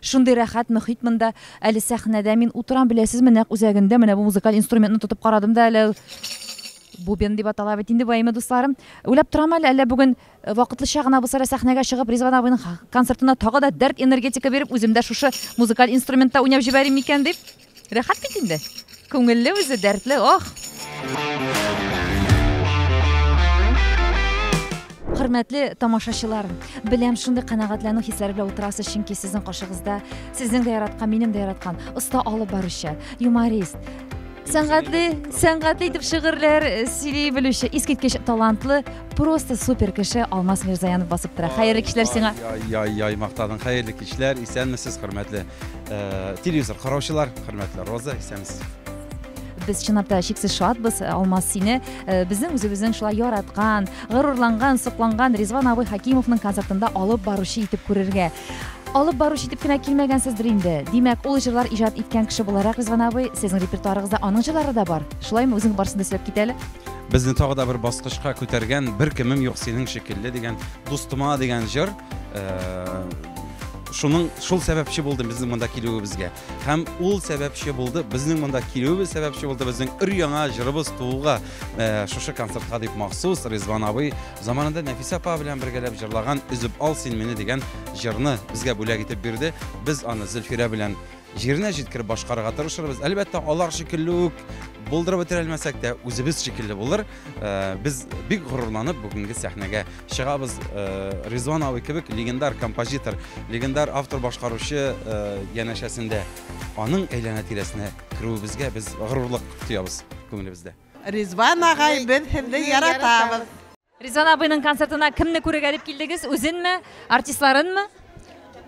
Шундый рәхәт мөхит монда. Әле сәхнәдә мин утырам, беләсезме, нәкъ үзәгендә менә бу музыкаль инструментны тотып карадым да әле. Бубен дип атала бит инде бу, әйеме, дусларым? Уйлап торам әле, әллә бүген э, вакытлыча гына булса да сәхнәгә чыгып, Ризван абыйның концертына тагы да дәрт энергетика биреп, үзем дә шушы музыкаль инструментта уйнап җибәрим микән дип. Рәхәт бит инде. Күңелле үзе, дәртле, ох! Хөрмәтле тамашачылар, беләм, шундый канәгатьләнү хисләре белән утырасыз, чөнки сезнең каршыгызда сезнең дә яраткан, минем дә яраткан оста алып баручы, юморист, сәнгатьле, сәнгатьле итеп шигырьләр э, сөйли белүче, искиткеч талантлы, просто супер кеше Алмаз Мирзаянов басып тора. Хәерле кичләр сиңа! Яй, яй, яй, мактадың. Хәерле кичләр, исәнмесез, хөрмәтле Э, телевизор караучылар хөрмәтле роза исәнмесез без чынлап та чиксез шатбыз э, алмаз сине э, безнең үзебезнең шулай яраткан горурланган сокланган ризван абый хакимовның концертында алып баручы итеп күрергә алып баручы итеп кенә килмәгәнсездер инде димәк ул җырлар иҗат иткән кеше буларак ризван абый сезнең репертуарыгызда аның җырлары да бар шулаймы үзең барысын да сөйләп кит әле безне тагы да бер баскычка күтәргән бер кемем юк синең шикелле дигән дустыма дигән җыр Шуның шул сәбәпче булды безнең монда килүебезгә. Һәм ул сәбәпче булды безнең монда килүебез сәбәпче булды безнең өр яңа җырыбыз тууга э, шушы концертка дип махсус Ризван абый заманында Нәфисә апа белән бергәләп җырлаган Өзеп ал син мине дигән җырны безгә бүләк итеп бирде. Без аны Зөлфирә белән җиренә җиткереп башкарырга тырышырбыз. Әлбәттә, алар шикелле үк булдырып бетерә алмасак та, үзебез шикелле булыр. Э, без бик горурланып бүгенге сәхнәгә Чыгабыз Ризван абый кебек легендар композитор, легендар автор башкаручы янәшәсендә аның әйләнә тирәсенә керүебезгә без горурлык тоябыз күңелебездә. Ризван агай, без сезне яратабыз. Ризван абыйның концертына кемне күрергә дип килдегез? Үзенме, артистларынмы?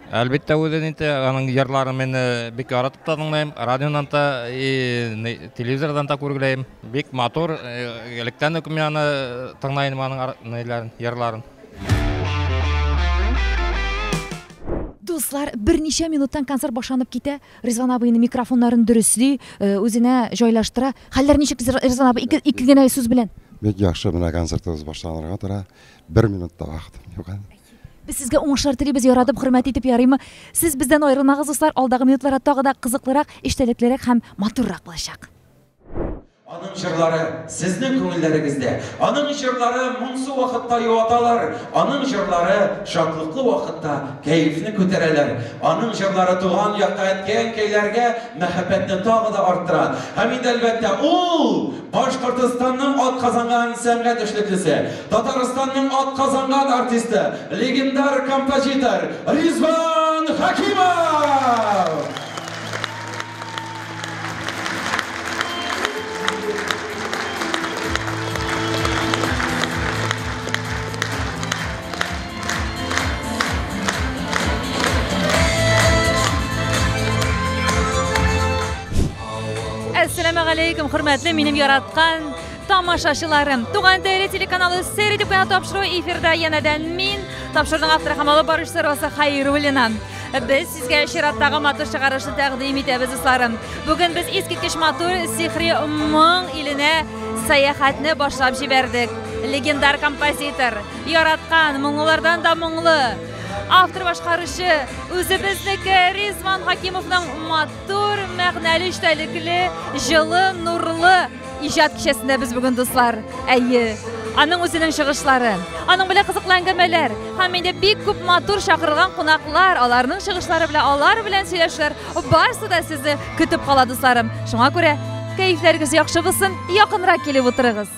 Әлбәттә, үзен инде аның җырларын мин э, бик яратып та тыңлыйм, радионан да, и телевизордан да күргеләйм. Бик матур, э, электән үк мин аны э, тыңлыйм аның җырларын. Дуслар, берничә минуттан концерт башланып китә. Ризван абыйның микрофоннарын дөресли, үзенә җайлаштыра. Хәлләр ничек Ризван абый? Ике, ике генә сүз белән. Бик яхшы менә концертыбыз башланырга тора. Бер минутта вакытым юк әле. Без сезгә уңышлар телибез, яратып, хөрмәт итеп ярыймы? Сез бездән аерылмагыз, дуслар, алдагы минутларда тагы да кызыклырак, эчтәлеклерәк һәм матуррак булачак. Аның җырлары сезнең күңелләрегездә, аның җырлары моңсу вакытта юаталар, аның җырлары шатлыклы вакытта кәефне күтәрәләр, аның җырлары туган якта әткәй-әнкәйләргә, мәхәббәтне тагы да арттыра. Һәм инде, әлбәттә, ул, Башкортостанның атказанган сәнгать эшлеклесе, Татарстанның атказанган артисты, легендар композитор Ризван Хәкимов! Әссәламәгаләйкүм, хөрмәтле минем яраткан тамашачыларым. Туган теле телеканалы сәйр итеп кенә тапшыру эфирда янәдән мин, тапшыруның авторы һәм алып баручысы Роза Хәйруллина. Без сезгә чираттагы матур чыгарышны тәкъдим итәбез, дусларым. Бүген без искиткеч матур сихри моң иленә сәяхәтне башлап җибәрдек. Легендар композитор Яраткан, моңлылардан да моңлы. Автор башкаручы үзебезнеке Ризван Хакимовның матур, мәгънәле, эчтәлекле, җылы, нурлы иҗат кичәсендә без бүген дуслар. Әйе, аның үзенең чыгышлары, аның белән кызыклы әңгәмәләр һәм инде бик күп матур чакырылган кунаклар, аларның чыгышлары белән, алар белән сөйләшүләр барысы да сезне көтеп кала, дусларым. Шуңа күрә кәефләрегез яхшы булсын, якынрак килеп утырыгыз.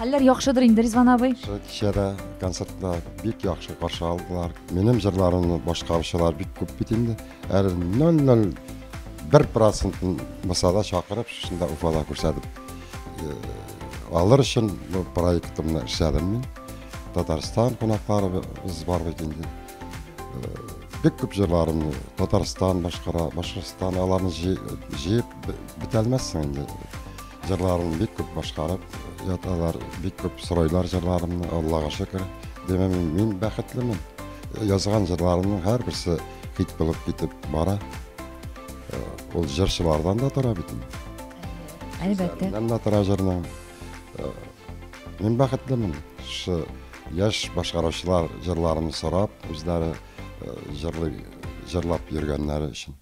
Хәлләр яхшыдыр инде, Ризван абый. Шул кичәдә концертта бик яхшы каршы алдылар. Минем җырларымны башкаручылар бик күп бит инде. Әле 0,01 процентын мисала чакырып, шушында Уфада күрсәтеп э, алыр өчен бу проектымны эшләдем мин. Татарстан кунакларыбыз бар бит инде. Э, Бик күп җырларымны Татарстан башкара, Башкортстан аларны җыеп бетәлмәссең инде. Җырларын бик күп башкарып яталар, бик күп сорайлар җырларымны, Аллага шөкер. Димәк, мин, мин бәхетлемен. Язган җырларымның һәрберсе хит булып китеп бара. Э, ул җырчылардан да тора бит. Әлбәттә. Мин дә тора җырның. Э, мин бәхетлемен. Шы яшь башкаручылар җырларымны сорап, үзләре э, җырлый, җырлап йөргәннәре өчен.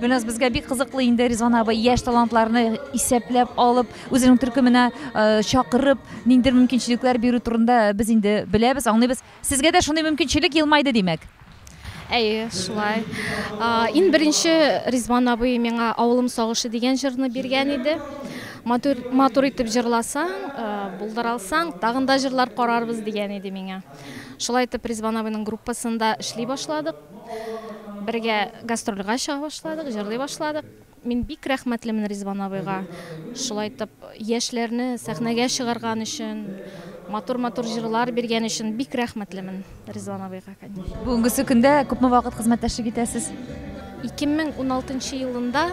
Гөлназ, безгә бик кызыклы инде Ризван абый яшь талантларны исәпләп алып, үзенең төркеменә э, чакырып, ниндидер мөмкинчелекләр бирү турында без инде беләбез, аңлыйбыз. Сезгә дә шундый мөмкинчелек елмайды, димәк. Әйе, шулай. А, Иң беренче Ризван абый миңа Авылым сагышы дигән җырны биргән иде. Матур, матур итеп җырласаң, э, булдыра алсаң, тагын да җырлар карарбыз дигән иде миңа. Шулай итеп Ризван абыйның группасында эшли башладык. Бергә гастрольгә чыга башладык, җырлый башладык. Мин бик рәхмәтлемен Ризван абыйга. Шулай итеп, яшьләрне сәхнәгә чыгарган өчен, матур-матур җырлар биргән өчен бик рәхмәтлемен Ризван абыйга, конечно. Бүгенгесе көндә күпме вакыт хезмәттәшлек итәсез? 2016 елында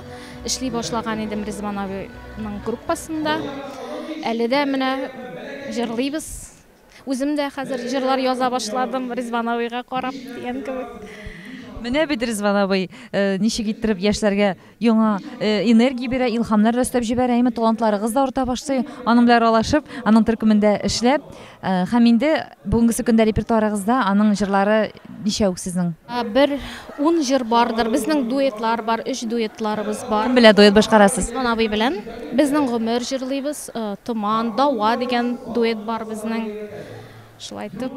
эшли башлаган идем Ризван абыйның группасында. Әле дә менә җырлыйбыз. Үзем дә хәзер җырлар яза башладым, Ризван абыйга карап дигән кебек. Менә бит Ризван абый ничек иттереп яшьләргә яңа энергия бирә, илһамнар да өстәп җибәрә, әйме, талантларыгыз да арта башлый. Аның белән аралашып, аның төркемендә эшләп һәм инде бүгенгесе көндә репертуарыгызда аның җырлары Ничәү сезнең? Бер ун җыр бардыр. Безнең дуэтлар бар, өч дуэтларыбыз бар. Кем белән дуэт башкарасыз? Госман абый белән. Безнең гомер җырлыйбыз. Томан, Дава дигән дуэт бар безнең. Шулай итеп.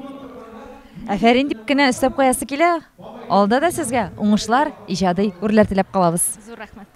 Әфәрин дип кенә өстәп куясы килә. Алда да сезгә уңышлар, иҗади үрләр теләп калабыз. Зур рәхмәт.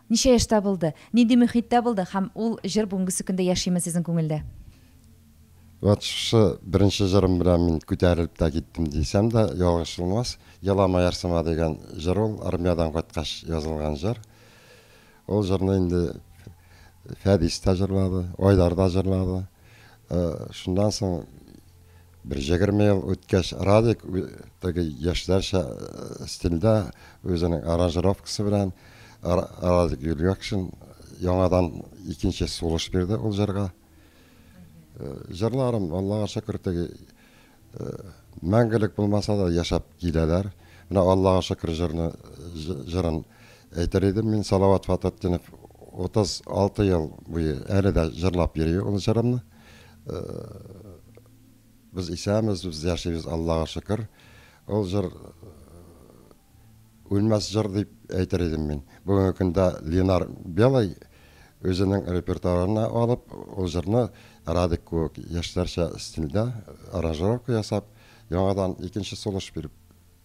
Ничә яшьтә булды, нинди мөхиттә булды һәм ул җыр бүгенгесе көндә яшиме сезнең күңелдә? Вот шушы беренче җырым белән мин күтәрелеп тә киттем дисәм дә ялгыш булмас. Елама ярсыма дигән җыр ул, армиядән кайткач язылган җыр. Ул җырны инде Фәдис тә җырлады, Айдар да җырлады. Шуннан соң Бер җегерме ел үткәч, Радик теге яшьләрчә стильдә, үзенең аранжировкасы белән Радик Юльгакшин яңадан икенче сулыш бирде ул җырга. Җырларым, Аллага шөкер, теге мәңгелек булмаса да яшәп киләләр. Менә Аллага шөкер җырны җырын әйтер идем мин, Салават Фататдинов 36 ел буе әле дә җырлап йөри ул җырымны. Без исәмез, без яшибез, Аллага шөкер. Ул җыр үлмәс җыр дип әйтер идем мин. Бүгенге көндә Ленар Белый үзенең репертуарына алып, ул җырны Радик кебек яшьләрчә стильдә аранжировка ясап, яңадан икенче сулыш биреп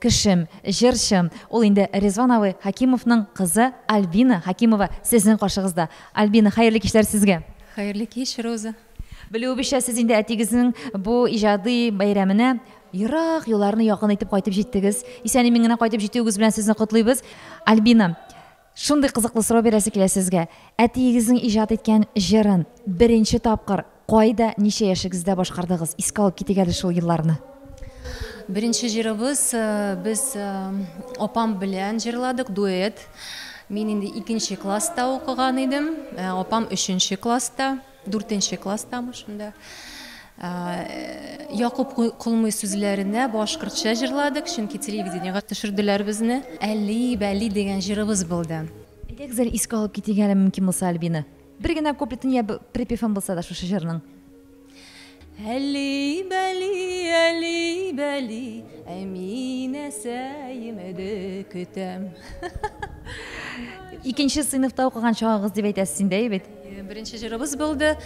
Кешем, җырчы, ул инде Ризван абый Хәкимовның кызы Альбина Хәкимова сезнең каршыгызда. Альбина, хәерле кичләр сезгә! Хәерле кич, Роза! Белүебезчә, сез инде әтигезнең бу иҗади бәйрәменә ерак юлларны якын итеп кайтып җиттегез. Исән-имин генә кайтып җитүегез белән сезне котлыйбыз. Альбина, Шундый кызыклы сорау бирәсе килә сезгә, әтиегезнең иҗат иткән җырын беренче тапкыр кайда, ничә яшегездә башкардыгыз? Искә алып китик әле шул елларны. Беренче җырыбыз без апам белән җырладык, дуэт. Мин инде икенче класста укыган идем, апам өченче класста. Дүртенче класстамы шунда. Якуп Колмый сүзләренә башкортча җырладык, чөнки телевидениегә төшерделәр безне. Әли, бәли дигән җырыбыз булды. Әйдәгез әле искә алып китик әле, мөмкин булса, Альбина. Бер генә куплетын я припевын булса да шушы җырның. Әли-бәли, әли-бәли, Әминәсәемеде көтәм. Икенче сыйныфта укыган чагыгыз дип әйтәсез инде, әй бит. Беренче җырыбыз булды.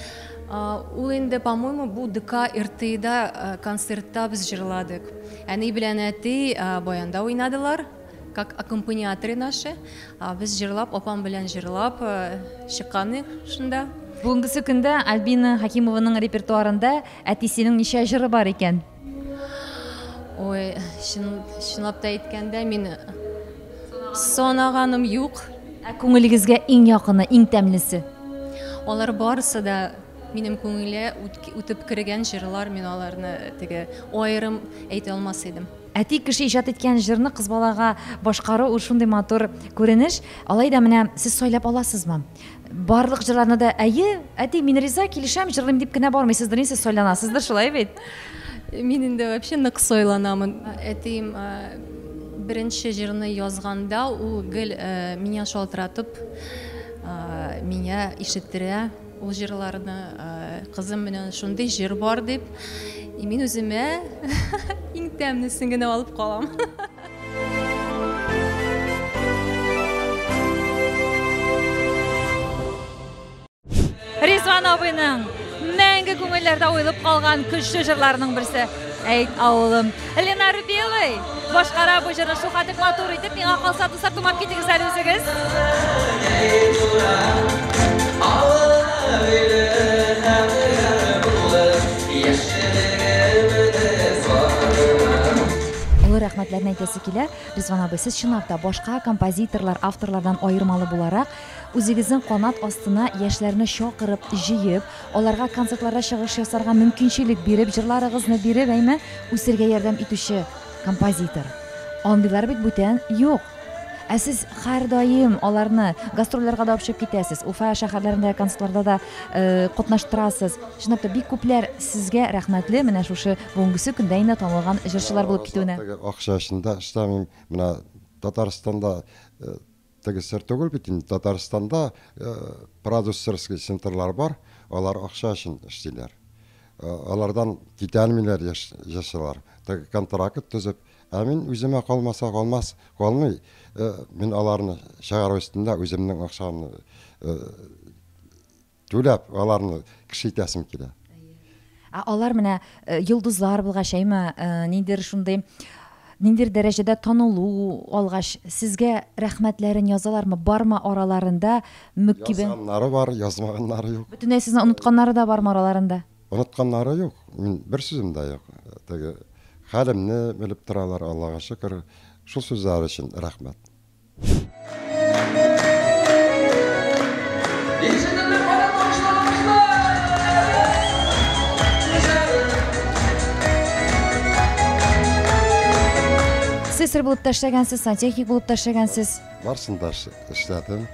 Ул инде, по-моему, бу ДК РТИда концертта без җырладык. Әни белән әти баянда уйнадылар. Как аккомпаниаторы наши, без җырлап, апам белән җырлап чыкканы шунда. Бүгенгесе көндә Альбина Хакимованың репертуарында әтисенең ничә җыры бар икән? Ой, чын, чынлап та әйткәндә, мин санаганым юк. Ә күңелегезгә иң якыны, иң тәмлесе? Алар барысы да минем күңелгә үтеп кергән җырлар, мин аларны теге аерым әйтә алмас идем. Әти кеше иҗат иткән җырны кыз балага башкару ул шундый матур күренеш. Алай да менә сез сайлап аласызмы? Барлык җырларны да әйе, әти, мин риза, килешәм, җырлыйм дип кенә бармыйсыздыр, сез сайланасыздыр, шулай бит? Мин инде вообще нык сайланамын. Әтием беренче җырны язганда, ул гел меня шалтыратып, меня ишеттерә. Ул җырларны кызым менә шундый җыр бар дип, мин үземә иң тәмнесен генә алып калам. Ризван абыйның мәңге күңелләрдә уелып калган көчле җырларының берсе. Әй, авылым. Лена Рубелый башкара бу җырны шулкадәр матур итеп. Миңа калса, дуслар, тыңлап китегез әле үзегез. Олы рәхмәтләрне әйтәсе килә. Ризван абый, сез чынлап та башка композиторлар, авторлардан аермалы буларак, үзегезнең канат астына яшьләрне чакырып, җыеп, аларга концертларда чыгыш ясарга мөмкинчелек биреп, җырларыгызны биреп, әйме, үсергә ярдәм итүче композитор. Андыйлар бит бүтән юк. Ә сез һәрдаим аларны гастрольләргә дә алып чыгып китәсез, Уфа шәһәрләрендә концертларда да катнаштырасыз. Чынлап та, бик күпләр сезгә рәхмәтле менә шушы бүгенгесе көндә инде танылган җырчылар булып китүенә. Акча өчен дә эшләмим. Менә Татарстанда Теге сер түгел бит инде, Татарстанда продюсерский центрлар бар, алар акча өчен эшлиләр. Алардан китәлмиләр җырчылар. Теге контракт төзеп, ә мин үземә калмаса калмас, калмый. Мин аларны чыгару өстендә үземнең акчамны Түләп аларны кеше итәсең килә. Ә алар менә э, йолдызлар булгач, әйме, э, ниндидер шундый ниндидер дәрәҗәдә танылу алгач, сезгә рәхмәтләрен язалармы? Бармы араларында мөкибе? Язганнары бар, язмаганнары юк. Бөтенләй сезне онытканнары да бармы араларында? Онытканнары юк. Мин бер сүзем дә юк. Теге хәлемне белеп торалар, Аллага шөкер. Шул сүзләр өчен рәхмәт. слесарь булып та эшләгәнсез сантехник булып та эшләгәнсез барысын да эшләдем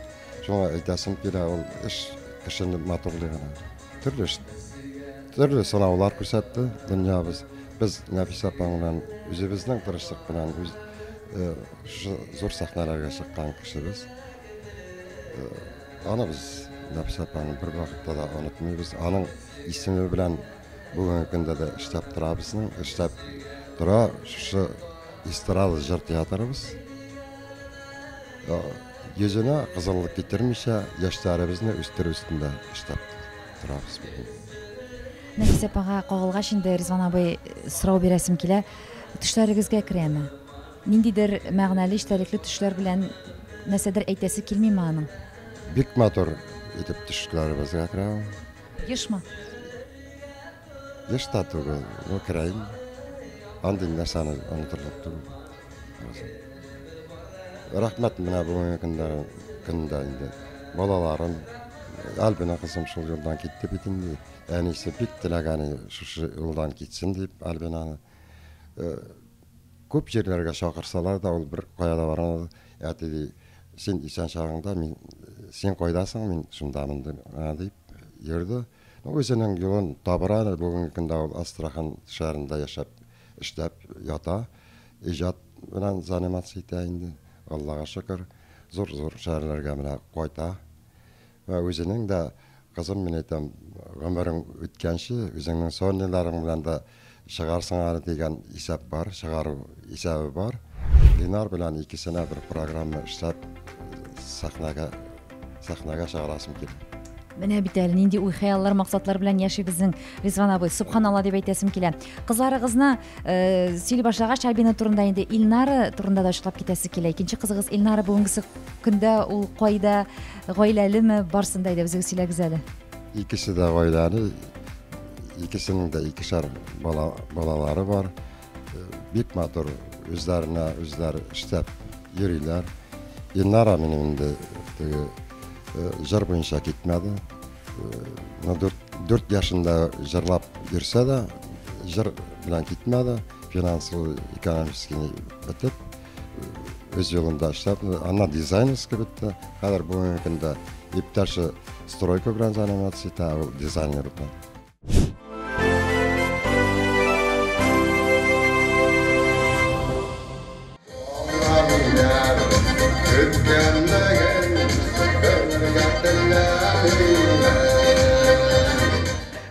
шуңа әйтәсем килә ул эш кешене матурлыгына төрле төрле сынаулар күрсәтте дөньябыз без нәфисә апа белән үзебезнең тырышлык белән үз Шы, зур сәхнәләргә чыккан кешебез. Э, аны без Нәфис апаны бер вакытта да онытмыйбыз. Аның исеме белән бүгенге көндә дә эшләп торабызның, эшләп тора шушы эстрада җыр театрыбыз. Э, Йөзенә кызыллык китермичә яшьләребезне үстерү өстендә эшләп торабыз. Нәфис апага кагылгач инде Ризван абый сорау бирәсем килә. Төшләрегезгә керәме? Ниндидер мәгънәле эчтәлекле төшләр белән нәрсәдер әйтәсе килмиме аның? Бик матур итеп төшләребезгә керә ул. Ешмы? Еш та түгел, ну керә инде. Андый нәрсәне онытырлык түгел. Рәхмәт менә бүгенге көндә, көндә инде балаларым, Альбина кызым шул юлдан китте бит инде. Әнисе бик теләгәне шушы юлдан китсен дип Альбинаны. Күп җирләргә чакырсалар да, ул беркая да бара алмады. Әти, ди, син исән чагыңда, мин, син кайда соң, мин шундамын, ди, а, дип йөрде. Ну, үзенең юлын табыр әле, бүгенге көндә ул Астрахан шәһәрендә яшәп, эшләп ята, иҗат белән заниматься итә инде, Аллага шөкер, зур-зур шәһәрләргә менә кайта. Вә үзенең дә, Кызым, мин әйтәм, гомерең үткәнче, үзеңнең сорниларың белән дә чыгарсың әле дигән исәп бар, чыгару исәбе бар. Линар белән икесенә бер программа эшләп, сәхнәгә, сәхнәгә чыгарасым килә. Менә бит әле нинди уй-хыяллар, максатлар белән яши безнең Ризван абый. Субханалла дип әйтәсем килә. Кызларыгызны э, сөйли башлагач, Альбина турында инде Илнара турында да ачыклап китәсе килә. Икенче кызыгыз Илнара бүгенгесе көндә ул кайда, Гаиләлеме, барсын да әйдә үзегез сөйләгез әле. Икесе дә гаиләле, икесенең дә икешәр бала, балалары бар. Э, бик матур, үзләренә үзләр эштәп йөриләр. Ильнара минем инде теге э, җыр буенча китмәде. Э, дүрт, дүрт яшында җырлап йөрсә дә, җыр белән китмәде, финансовый, экономический бетеп. үз юлында эшләп, аннан дизайнерская бетте. Хәзер бүгенге көндә иптәше стройка белән заниматься итә, ул дизайнер итә.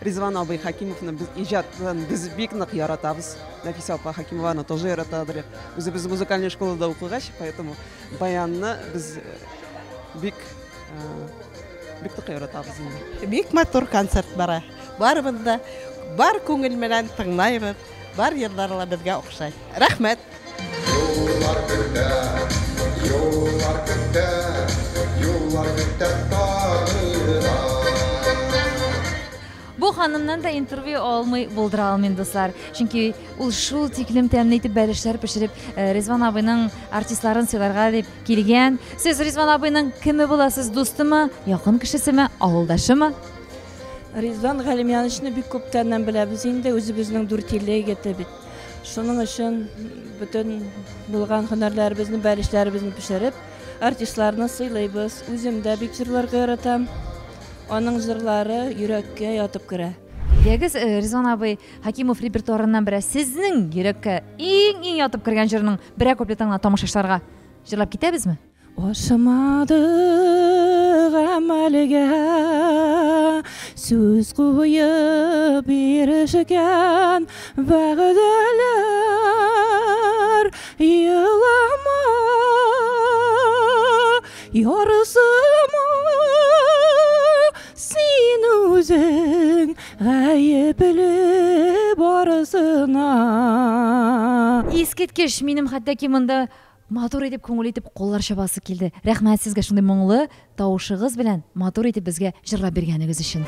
Ризван абый Хәкимовны без иҗатын без бик нык яратабыз. Нәфисә апа Хәкимова аны тоже яратадыр. Үзебез музыкальный школада укыгач, поэтому баянны без бик бик тә яратабыз инде. Бик матур концерт бара. Барыбыз да бар күңел белән тыңлайбыз. Бар җырлар ла безгә охшай. Рәхмәт. Юллар көтә, юллар көтә, юллар көтә. Бу ханымнан да интервью алмый булдыра алмыйм, дуслар. Чөнки ул шул тиклем тәмле итеп бәлешләр пешереп, э, Ризван абыйның артистларын сыйларга дип килгән. Сез Ризван абыйның кеме буласыз, дустымы, якын кешесеме, авылдашымы? Ризван Галимьяновичны бик күптәннән беләбез инде, үзебезнең дүртилле егете бит. Шуның өчен бөтен булган һөнәрләребезне, бәлешләребезне пешереп, артистларны сыйлыйбыз. Үзем дә бик җырларга яратам. Аның җырлары йөрәккә ятып керә. Дигез, Резон абый, Хәкимов репертуарыннан берәр сезнең йөрәккә иң-иң ятып кергән җырның берәр куплетын гына тамашачыларга җырлап китәбезме? Ашамады гамәлгә сүз куеп ирешкән вәгъдәләр елама Ярсыма син үзең гаепле барысына. Искиткеч, минем хәтта ки монда матур итеп, күңел итеп куллар чабасы килде. Рәхмәт сезгә шундый моңлы тавышыгыз белән матур итеп безгә җырлап биргәнегез өчен.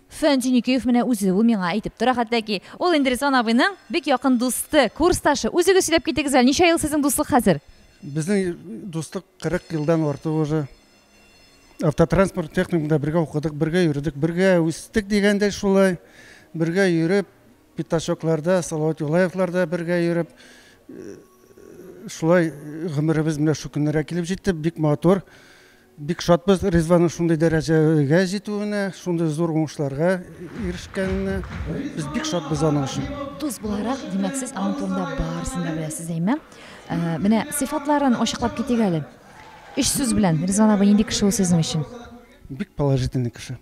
Фән Җиникеев менә үзе ул миңа әйтеп тора хәтта ки, ул инде Ризван абыйның бик якын дусты, курсташы. Үзегез сөйләп китегез әле, ничә ел сезнең дуслык хәзер? Безнең дуслык 40 елдан артык уже. Автотранспорт техникумда бергә укыдык, бергә йөрдек, бергә үстек дигәндәй шулай. Бергә йөреп, пятачокларда, Салават Юлаевларда бергә йөреп, шулай гомеребез менә шул көннәргә килеп җитте. Бик матур. Бик шатбыз Ризванның шундый дәрәҗәгә җитүенә, шундый зур уңышларга ирешкәненә. Без бик шатбыз аның өчен. Дус буларак, димәк, сез аның турында барысын да беләсез, әйме? Ә, менә сыйфатларын ачыклап китик әле. Өч сүз белән Ризван абый нинди кеше ул сезнең өчен? Бик положительный кеше.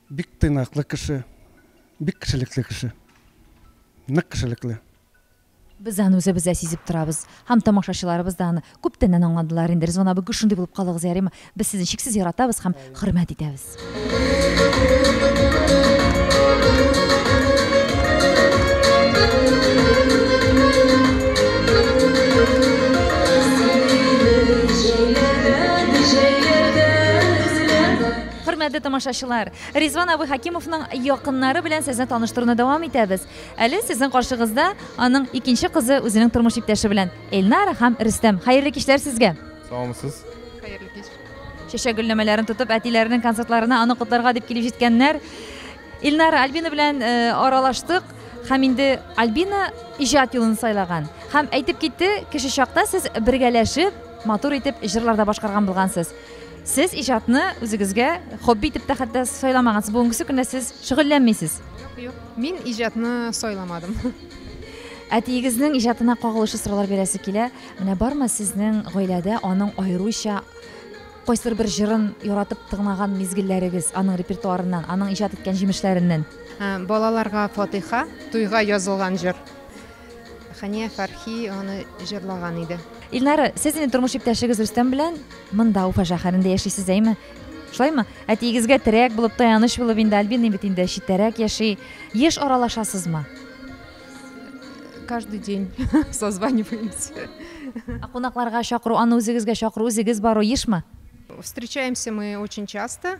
Бик тыйнаклы кеше. Бик кешелекле кеше. Нык кешелекле. Без аны үзебез дә сизеп торабыз. Һәм тамашачыларыбыз да аны күптәннән аңладылар инде. Ризван абый, гел шундый булып калыгыз, ярыймы? Без сезне чиксез яратабыз һәм хөрмәт итәбез. Хөрмәтле тамашачылар, Ризван абый Хәкимовның якыннары белән сезне таныштыруны дәвам итәбез. Әле сезнең каршыгызда аның икенче кызы үзенең тормыш иптәше белән. Эльнара һәм Рөстәм, хәерле кичләр сезгә! Саумысыз. Хәерле кич. Чәчәк гөлләмәләрен тотып, әтиләренең концертларына аны котларга дип килеп җиткәннәр. Ильнара Альбина белән э, аралаштык һәм инде Альбина иҗат юлын сайлаган. Һәм әйтеп китте, кеше чакта сез бергәләшеп, матур итеп җырларда башкарган булгансыз. Сез иҗатны үзегезгә хобби итеп тә хәтта сайламагансыз. Бүгенгесе көнә сез шөгыльләнмисез. Юк, мин иҗатны сайламадым. Әтиегезнең иҗатына кагылышлы сораулар бирәсе килә. Менә бармы сезнең гаиләдә аның аеруча кайсыр бер җырын яратып тыңлаган мизгелләрегез аның репертуарыннан, аның иҗат иткән җимешләреннән? Балаларга фатыйха, туйга язылган җыр. Хәния Фәрхи аны җырлаган иде. Илнара, сез инде тормыш иптәшегез Рөстәм белән монда Уфа шәһәрендә яшисез, әйме? Шулаймы? Әтиегезгә терәк булып, таяныч булып инде Альбина бит инде читтәрәк яши. Еш аралашасызмы? Каждый день созваниваемся. Ә кунакларга чакыру, аны үзегезгә чакыру, үзегез бару ешмы? Встречаемся мы очень часто.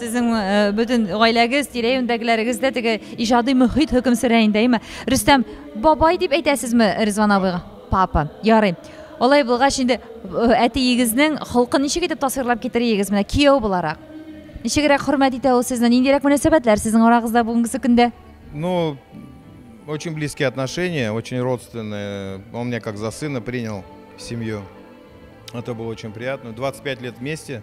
Сезнең бөтен гаиләгез, тирә-юньдәгеләрегез дә теге иҗади мөхит хөкем сөрә инде, әйме? Рөстәм, бабай дип әйтәсезме Ризван абыйга? Папа. Ярый. Алай булгач инде әтиегезнең холкын ничек итеп тасвирлап китерегез менә кияү буларак? Ничегрәк хөрмәт итә ул сезне? Ниндирәк мөнәсәбәтләр сезнең арагызда бүгенге көндә? Ну, очень близкие отношения, очень родственные. Он меня как за сына принял в семью. Это было очень приятно. 25 лет вместе.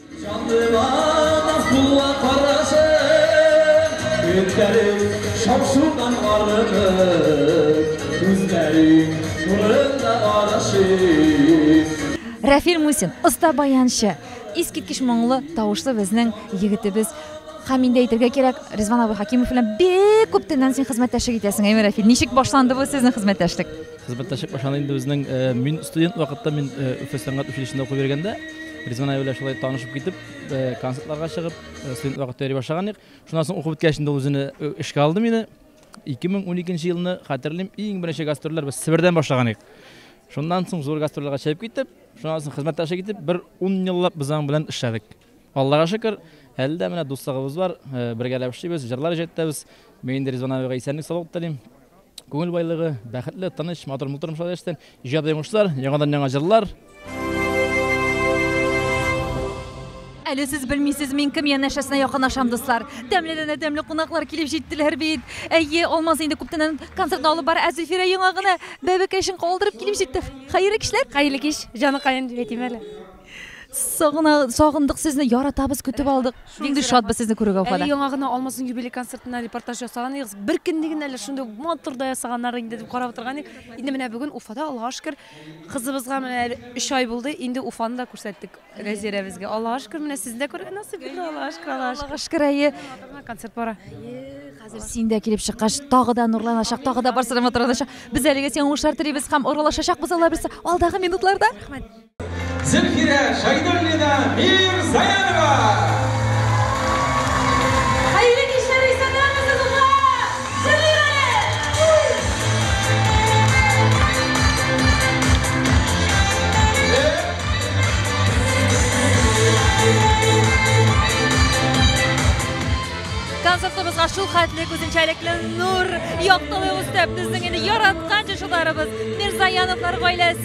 Җанлыма Назулла карашың, Өстәлең шау-шудан арынып, Күзләрең нурында арышыйм. Рәфил Мусин, оста баянчы, искиткеч моңлы тавышлы безнең егетебез һәм инде әйтергә кирәк, Ризван абый Хәкимов белән бик күп төннән син хезмәттәшлек итәсең, әйеме, Рәфил? Ничек башланды бу сезнең хезмәттәшлек? Хезмәттәшек башлана инде безнең. Э, мин студент вакытта мин э, Өфе сәнгать училищесында укып йөргәндә Ризван Аюлә шулай танышып китеп, э, концертларга чыгып, студент вакытта йөри башлаган идек. Шуннан соң укып беткәч инде үзенә эшкә алды мине. 2012 елны хәтерлим, иң беренче гастрольләр без Себердән башлаган идек. Шуннан соң зур гастрольләргә чыгып китеп, шуннан соң хезмәттәшлек итеп, бер 10 еллап без аның белән эшләдек. Аллага шөкер, әле дә менә дуслыгыбыз бар, бергәләп эшлибез, җырлар җәтәбез. Мин инде Ризван абыйга исәнлек саулык телим. Күңел байлыгы, бәхетле, тыныч, матур мул тормышлар яшәсен. Иҗади уңышлар, яңадан яңа җырлар. Әле сез белмисез, мин кем янәшәсенә якынашам, дуслар. Тәмледән дә тәмле кунаклар килеп җиттеләр бит. Әйе, Алмаз инде күптәннән концертны алып бара, ә Зөлфирә яңа гына бәбекәчен калдырып килеп җитте. Хәерле кичләр! Хәерле кич, җаныкаем дип әйтим әле. Сагына, сагындык сезне, яратабыз, көтеп алдык. Нинди шатбыз сезне күрүгә Уфада. Әле яңа гына Алмазның юбилей концертына репортаж ясаган идек. Бер көнне генә әле шундый матур да ясаганнар инде дип карап утырган идек. Инде менә бүген Уфада Аллага шөкер кызыбызга менә әле 3 ай булды. Инде Уфаны да күрсәттек Рәзирәбезгә. Аллага шөкер менә сезне дә күрергә насыйп булды. Аллага шөкер, Аллага шөкер. Аллага шөкер, әйе. Концерт бара. Хәзер син дә килеп чыккач, тагы да нурланачак, тагы да барсы да матурланачак. Без әлегә сиңа уңышлар телибез һәм аралашачакбыз Алла бирса алдагы минутларда. Рәхмәт. Зөлфирә Шәйдуллина Мирзаянова! Концертыбызга шул хәтле үзенчәлекле нур, яктылык өстәп, безнең инде яраткан җырчыларыбыз Мирзаяновлар гаиләсе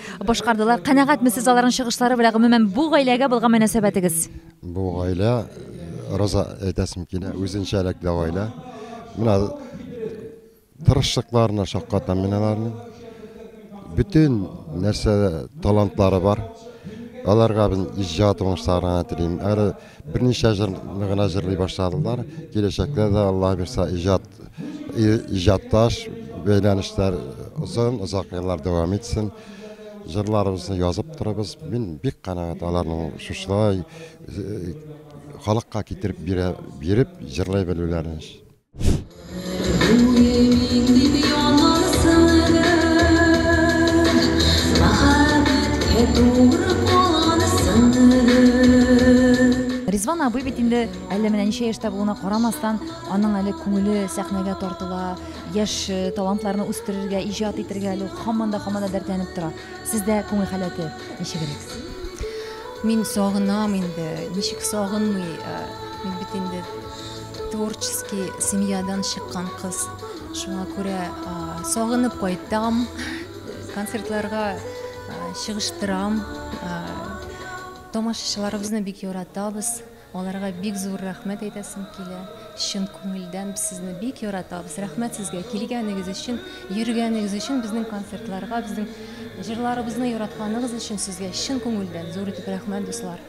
башкардылар. Канәгатьме сез аларның чыгышлары белән, гомумән бу гаиләгә булган мөнәсәбәтегез? Бу гаилә Роза әйтәсем килә, үзенчәлекле гаилә. Менә тырышлыкларына шаккатам мин аларның. Бөтен нәрсә талантлары бар. Аларга мин иҗат уңышларына телим. Әле Берничә җыр гына җырлый башладылар. Киләчәктә дә Алла бирса иҗат иҗатташ бәйләнешләр озын озак еллар дәвам итсен. Җырларыбызны язып торабыз. Мин бик канәгать аларның шушылай халыкка китереп бирә, биреп җырлый белүләрен. Ризван абый бит инде әллә менә ничә яшьтә булуына карамастан, аның әле күңеле сәхнәгә тартыла, яшь э, талантларны үстерергә, иҗат итергә әле хаман да хаман да дәртләнеп тора. Сездә күңел халәте ничегрәк? Мин сагынам инде, ничек сагынмый, э, мин бит инде Творческий семьядан чыккан кыз. Шуңа күрә сагынып кайтам, концертларга чыгыштырам. Тамашачыларыбызны бик яратабыз. Аларга бик зур рәхмәт әйтәсем килә. Чын күңелдән без сезне бик яратабыз. Рәхмәт сезгә килгәнегез өчен, йөргәнегез өчен, безнең концертларга, безнең җырларыбызны яратканыгыз өчен сезгә чын күңелдән зур итеп рәхмәт, дуслар.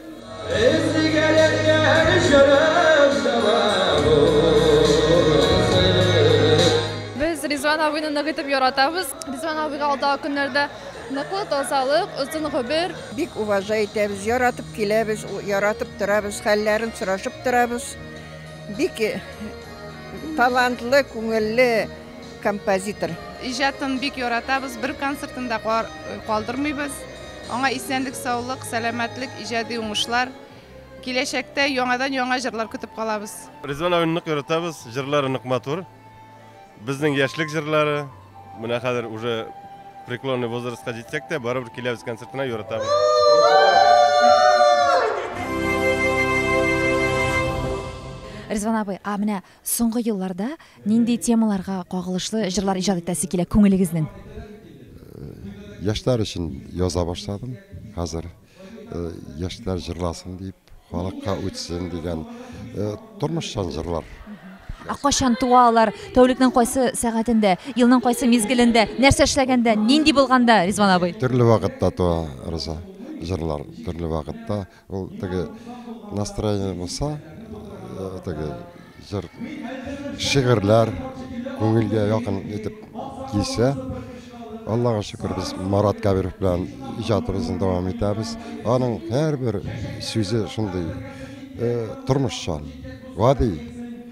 Без Ризван абыйны нык итеп яратабыз. Ризван абыйга алдагы көннәрдә ныклык, тазалык, озын гомер. Бик уважай итәбез, яратып киләбез, яратып торабыз, хәлләрен сорашып торабыз. Бик талантлы, күңелле композитор. Иҗатын бик яратабыз, бер концертын да калдырмыйбыз. Аңа исәнлек, саулык, сәламәтлек, иҗади уңышлар. Киләчәктә яңадан яңа җырлар көтеп калабыз. Ризван абыйны нык яратабыз, җырлары нык матур. Безнең яшьлек җырлары. Менә хәзер уже преклонный возрастка җитсәк тә, барыбер киләбез концертына, яратабыз. Ризван абый, а менә Соңгы елларда нинди темаларга кагылышлы җырлар иҗат итәсе килә күңелегезнең? Яшьләр өчен яза башладым хәзер. Яшьләр җырласын дип, халыкка үтсен дигән тормышчан җырлар. Ә кайчан туа алар? Тәүлекнең кайсы сәгатендә? Елның кайсы мизгелендә? Нәрсә эшләгәндә? Нинди булганда, Ризван абый? Төрле вакытта туа, Роза. Җырлар төрле вакытта. Ул теге настроение булса, теге җыр, шигырьләр күңелгә якын итеп килсә, Аллага шөкер, без Марат Кабиров белән иҗатыбызны дәвам итәбез. Аның һәрбер сүзе шундый тормышчан, гади.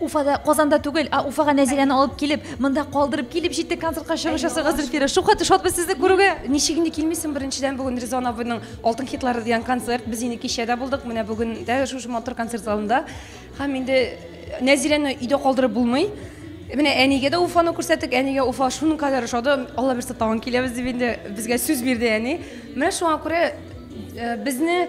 Уфада, Казанда түгел, а Уфага Нәзирәне алып килеп, монда калдырып килеп җитте концертка чыгыш ясарга Зөлфирә. Шулкадәр шатбыз сезне күрүгә. Ничек инде килмисең, беренчедән бүген Резон абыйның Алтын хитлары дигән концерт. Без инде кичә дә булдык, менә бүген дә шушы матур концерт залында. Һәм инде Нәзирәне өйдә калдырып булмый. Менә әнигә дә Уфаны күрсәттек, әнигә Уфа шуның кадәр ошады, Алла бирса тагын киләбез дип инде безгә сүз бирде әни. Менә шуңа күрә безне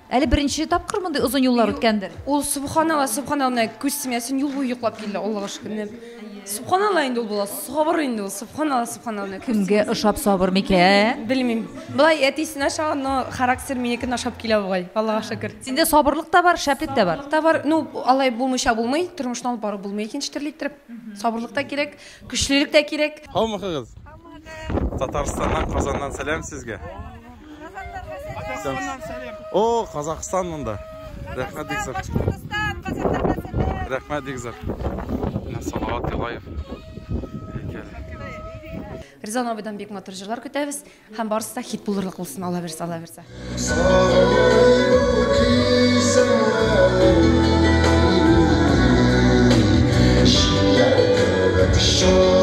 Әле беренче тапкыр мондый озын юллар үткәндер? Ул субханалла, субханалла, менә күз тимәсен, юл буе йоклап килде, Аллага шөкернеп. Субханалла инде ул була, сабыр инде ул, субханалла, субханалла. Кемгә ошап сабыр микә? Белмим. Болай әтисен ашаган, но характер минекен ашап килә бугай, Аллага шөкер. Синдә сабырлык та бар, шәплек тә бар. Та бар, ну алай булмыйча булмый, тормышны алып барып булмый икенче төрле иттереп. Сабырлык та кирәк, көчлелек тә кирәк. Һаумыхыгыз! Татарстаннан, Казаннан сәлам сезгә! О, Казахстан монда. Рәхмәт бик зур. Рәхмәт бик зур. Салават Юлаев. Ризан абыйдан бик матур җырлар көтәбез һәм барысы да хит булырлык булсын, Алла бирсә, Алла бирсә. Show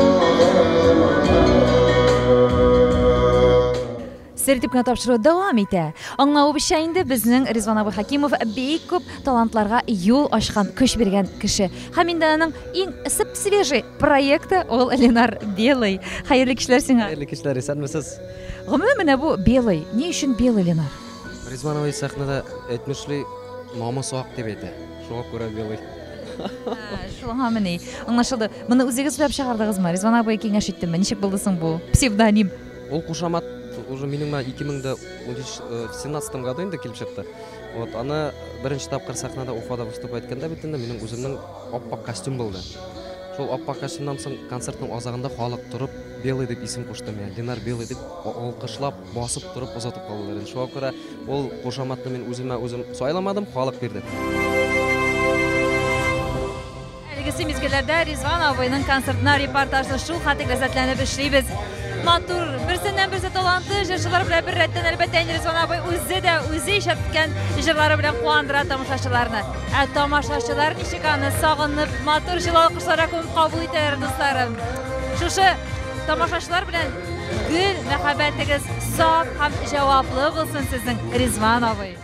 Сер дип кенә тапшыру дәвам итә. Аңлавыбызча инде, безнең Ризван абый Хәкимов бик күп талантларга юл ачкан, көч биргән кеше. Һәм инде аның иң сып-свежий проекты ул Ленар Белый. Хәерле кичләр сиңа! Хәерле кичләр, исәнмесез! Гомумән, менә бу Белый, ни өчен Белый, Ленар? Ризван абый сәхнәдә әйтмешли, намысы ак дип әйтә. Шуңа күрә Белый. Шуңамыни? Аңлашылды. Моны үзегез уйлап чыгардыгызмы? Ризван абый киңәш иттеме? Ничек булды соң бу псевдоним? Ул кушамат уже минем менә 2017-17 году инде килеп чыкты. Вот аны беренче тапкыр сәхнәдә Уфада выступ иткәндә бит инде минем үземнең аппак костюм булды. Шул аппак костюмнан соң концертның азагында халык торып Белый дип исем кушты миңа. Ленар Белый дип алкышлап, басып торып озатып калдылар. Шуңа күрә ул кушаматны мин үземә үзем сайламадым, халык бирде. Әлегесе мизгелләрдә Ризван абыйның концертына репортажны шул хәтле ләззәтләнеп эшлибез. Матур, берсеннән берсе талантлы җырчылар белән бер рәттән әлбәттә инде Ризван абый үзе дә үзе иҗат иткән җырлары белән куандыра тамашачыларны. Ә тамашачылар ничек аны сагынып, матур җылы алкышларга күмеп кабул итәләр, дусларым. Шушы тамашачылар белән гел мәхәббәтегез саф һәм җаваплы булсын сезнең Ризван абый.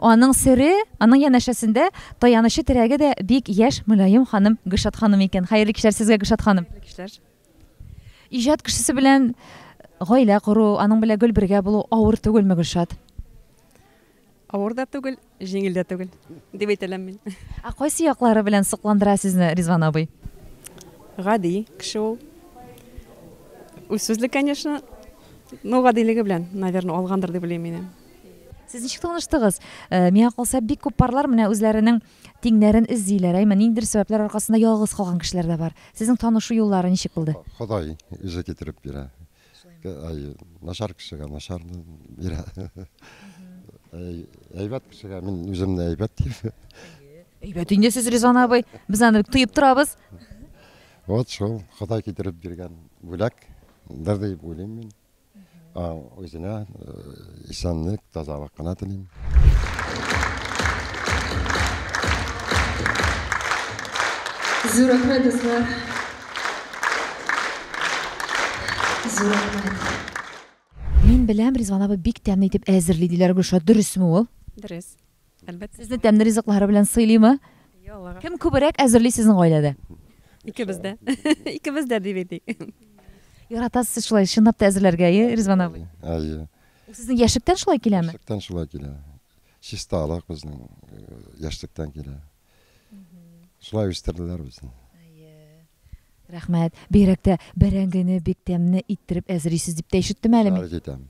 Аның сере, аның янәшәсендә таянычы терәге дә бик яшь, мөлаем ханым, Гөлшат ханым икән. Хәерле кичләр сезгә, Гөлшат ханым. Хәерле кичләр. Иҗат кешесе белән гаилә кору, аның белән гел бергә булу авыр түгелме, Гөлшат? Авыр да түгел, җиңел дә түгел, дип әйтәләм мин. Ә кайсы яклары белән сокландыра сезне Ризван абый? Гади кеше ул. Үзсүзле, конечно, но гадилеге белән, наверное, алгандыр дип уйлыйм мин. Сез ничек таныштыгыз? Э, миңа калса, бик күп парлар менә үзләренең тиңнәрен эзлиләр, әйме, ниндидер сәбәпләр аркасында ялгыз калган кешеләр дә бар. Сезнең танышу юллары ничек булды? Ходай үзе китереп бирә. Ай, начар кешегә начар бирә. Әйбәт кешегә мин үземне әйбәт дип. Әйбәт инде сез Ризан абый. Без аны бик тоеп торабыз. Вот шул Ходай китереп биргән бүләк. Дәр дип уйлыйм мин. Үзенә исәнлек, тазалык кына телим. Зур рәхмәт, дуслар. Зур рәхмәт. Мин беләм, Ризван абый бик тәмле итеп әзерли, диләр, Гөлшат, дөресме ул? Дөрес. Әлбәттә. Сезне тәмле ризыклары белән сыйлыймы? Кем күбрәк әзерли сезнең гаиләдә? Икебез дә. Икебез дә дип әйтик. Яратасыз сез шулай чынлап та әзерләргә, әйе, Ризван абый? Әйе. Ул сезнең яшьлектән шулай киләме? Яшьлектән шулай килә. Чисталык безнең э, яшьлектән килә. Шулай үстерделәр безне. Рәхмәт. Бигрәк тә бәрәңгене бик тәмне иттереп әзерисез дип тә ишеттем әле мин. Жарить итәм.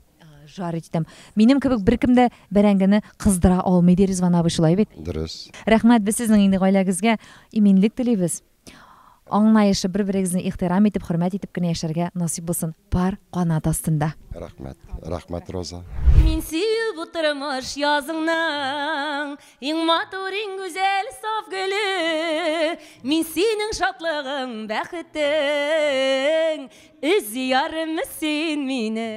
Жарить итәм. Минем кебек беркем дә бәрәңгене кыздыра алмый, ди Ризван абый, шулай бит? Дөрес. Рәхмәт, без сезнең инде гаиләгезгә иминлек телибез. Аңлаешлы, бер-берегезне ихтирам итеп, хөрмәт итеп кенә яшәргә насыйп булсын пар канат астында. Рәхмәт, рәхмәт, Роза. Мин сөю бу тормыш языңның Иң матур, иң гүзәл, саф гөле Мин синең шатлыгың, бәхетең Өзи ярымы син мине?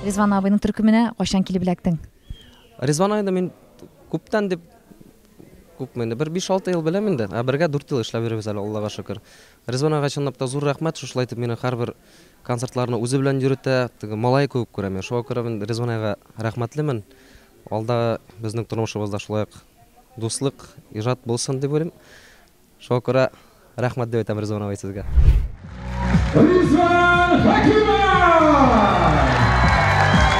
Ризван абыйның төркеменә кайчан килеп эләктең? Ризван абыйны мин күптән дип Күпме инде, бер биш-алты ел беләм инде, ә бергә дүрт ел эшләп йөрибез әле, Аллага шөкер. Ризван ага чынлап та зур рәхмәт, шушылай итеп мине һәрбер концертларына үзе белән йөретә, теге малае кебек күрә мине, шуңа күрә мин Ризван ага рәхмәтлемен. Алдагы безнең тормышыбызда шулай ук дуслык, иҗат булсын дип уйлыйм. Шуңа күрә рәхмәт дип әйтәм Ризван абый сезгә. Ризван Хәкимов!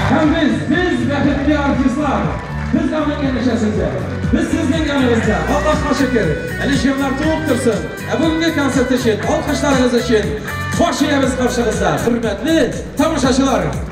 Һәм без, без бәхетле артистлар! Без аның яныча сездә! Без сезнең яныбызда! Аллаһка шөкер! Әле җырлар туып торсын! Ә бүгенге концерт өчен, алкышларыгыз өчен, баш иябез каршыгызда, хөрмәтле тамашачылар!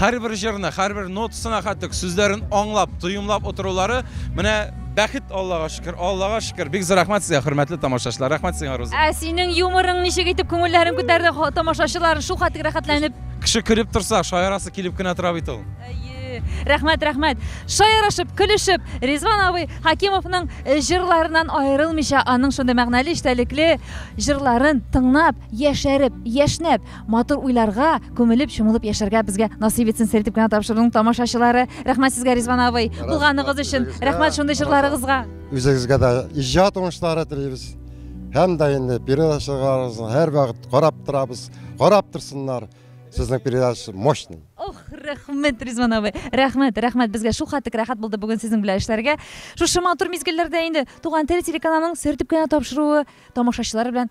Һәрбер җырны, һәрбер нотасына кадек сүзләрен аңлап, тоемлап утырулары, менә бәхет, Аллага шөкер, Аллага шөкер. Бик зур рәхмәт сезгә, хөрмәтле тамашачылар. Рәхмәт сиңа, Руза. Ә синең юморың ничек итеп күңелләрен күтәрде ха- тамашачылар шул хәтлек рәхәтләнеп? Кеше көлеп торса, шаярасы килеп кенә тора бит ул. Әйе. Рәхмәт, рәхмәт. Шаярышып, көлешеп, Ризван абый Хәкимовның э, җырларыннан аерылмыйча, аның шундый мәгънәле, эчтәлекле җырларын тыңлап, яшәреп, яшьнәп, Матур уйларга күмелеп чумылып яшәргә безгә насыйп итсен сер дип кенә тапшырдың тамашачылары. Рәхмәт сезгә Ризван абый. Булганыгыз өчен рәхмәт шундый җырларыгызга. Үзегезгә дә иҗат уңышлары телибез. Һәм дә инде передачаларыгызны һәрвакыт карап торабыз. Карап торсыннар. Сезнең передача мощный. Ох, рәхмәт, Ризван абый. Рәхмәт, рәхмәт. Безгә шул хәтлек рәхәт булды бүген сезнең белән эшләргә. Шушы матур мизгелләрдә инде Туган тел телеканалының сер дип кенә тапшыруы тамашачылар белән